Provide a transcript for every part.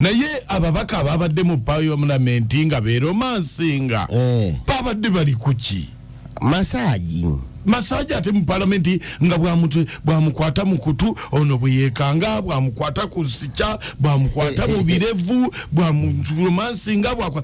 naye ababaka ababadde mu payomulamenti nga beromansinga eh. babadde bali kuki masaji masaji ate mu palamenti nga bwamukwata mu kutu ono bweyekanga bwamukwata ku sikya bwamukwata mu birevu bwamuromansinga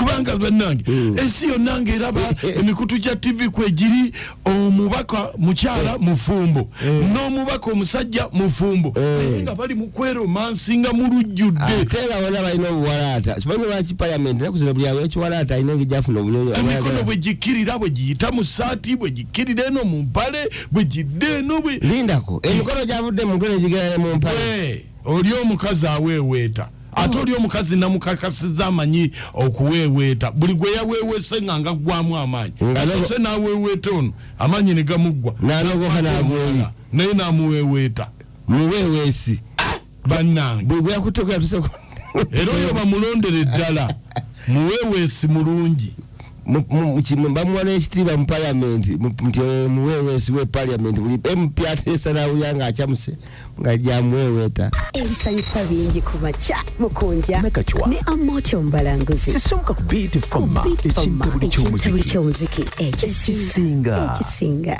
kubanga bannange hmm. ensi yonna ngaeraba emikutu gya tv kwegiri omubaka mukyala eh. mufumbo eh. n'omubaka omusajja mufumbo eh. nga bali mukweromansinga mulujjuddetera bona balina obuwalaata simanyi lwaki paliament naku zino buli awekiwalaata alina engi gyafuna obunyonyi emikono bwe gikkirira bwe giyita mu saati bwe gikkirira eno mu mpale bwe gidde eno bwe lindako emikono gyavudde mu mpale gigera ne mu mpale Oli omukazi aweeweeta ate oli omukazi namukakasiza amanyi okuweeweeta buli gwe yaweewese nga ngaggwamu amaanyi asose n'aweeweeta ono amaanyi ne gamuggwa naye n'amuweeweeta muweeweesi ah! bannange buli gwe yakutteko yatuseku era oyo bamulondere ddala muweeweesi mulungi bamuwa n'ekitiibwa mu paliamenti nti omuweeweesi we paliamenti buli mp ateesa n'awulira ng'acamuse nga gyamuweeweeta ebisanyusa bingi ku makya mukunja ne amoti omubalanguzi sisooka ku biiti foma ekintabuli ky'omuziki ekisinga